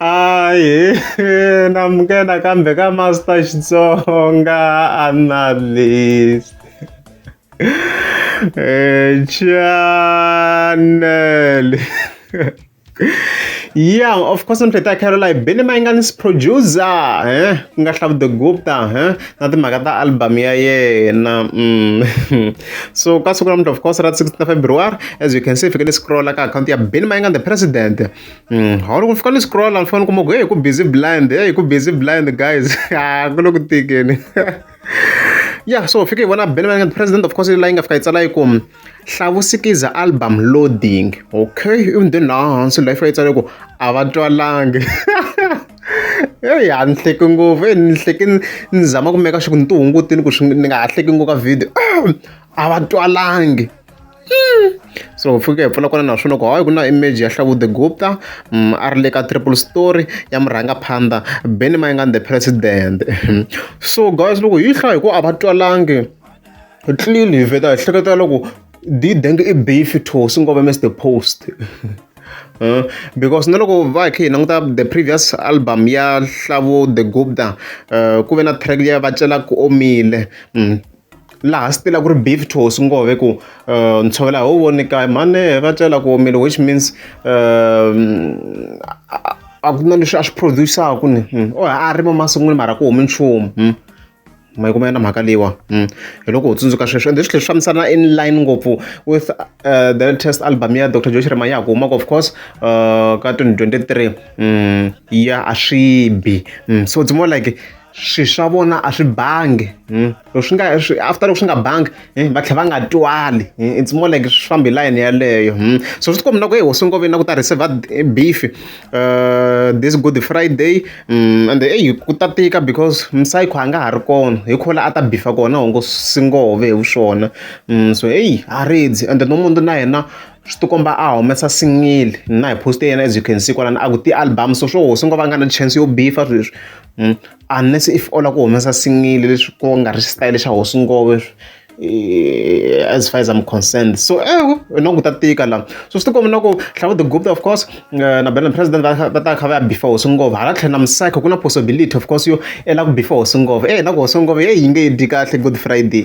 Hayi namukela kambe ka Master Xitsonga analyst eh, channel yeah of course ni pheta caroline bini mayinganis producer eh ku nga hlavu the gupta eh na timhaka ta album ya yena mm. so ka siku namuntlha of course ra 16 february as you can see fikele scrolla ka account ya bini mayingani the president ha loko ni fika ni scroll ni fane ni kuma ku heyi ku busy blind heyi ku busy blind guys a ku le ku tikeni ya so fike hi vona ben president of course la yi nga fika yi tsala yi ku hlavusikiza album loading okay ivi ni then laha hansi la yi fika yi tsala yi ku a va twalangi eyi a ni hleki ngopfu e ni hleki ni zama ku meka sure ku ni ti hungutini ku swi ni nga ha hleki ngopfu ka video a va twalangi so u fike hi pfuna kona naswona loko hayi ku na image ya hlavude gupta um a ri le ka triple story ya murhangaphandha beni mayingani the president so guys loko hi hlaya hi ku a va twalangi clearly hi vheta hi hleketela loko didenge i beef to swi ngova mr post Uh, because na loko va hi kha hi languta the previous album ya hlavo the gupta uh, ku ve na track leyi va celaka omile mm. laha swi tila ku ri beef to swi ngo ve ku uh, ntshovela hi wu voni kaya mhani va tlela ku omile which means uh, a ku na leswi a swi produce-aku ni hmm. o a rima masungwini mara ku humi nchumu hmm. ma yi kuma yona mhaka leyiwa hmm. hi loko u tsundzuka sweswo ende swilo leswi fambisana in line ngopfu with uh, the latest album ya dr josh rima ya ku humaka of course uh, ka 2023 ya a swi bi so it's more like swi swa vona a swi bangi hmm? loko swi nga swi after loko swi nga bangi hmm? va tlhela va nga twali hmm? it's more like swi famba hi layeni yaleyo so swi tikombi na ku e hosi ngoveni na ku ta receiver eh, beef uh, this good friday um, and eyi ku ta tika because msayikho a nga ha ri kona hi khola a ta bifa kona hongo singove hi vuswona um, so eyi a redzi and no munhu na yena swi tikomba a humesa singile na hi poste yena as you can see kwalana a ku ti-album so swo hosi ngo va nga na chance yo bifa sweswi unless if u lava ku humesa single leswi ku nga ri xitayele xa hosi ngove as far as I'm concerned so ewu hi na ku ta tika la so swi tikomba na ku Hlavu the Gupta of course na Benham president va va ta kha va ya bifa hosi ngove hala tlhelo na Musaka ku na possibility of course yo i lava ku bifa hosi ngove eyi na ku hosi ngove heyi yi nge dyi kahle good friday .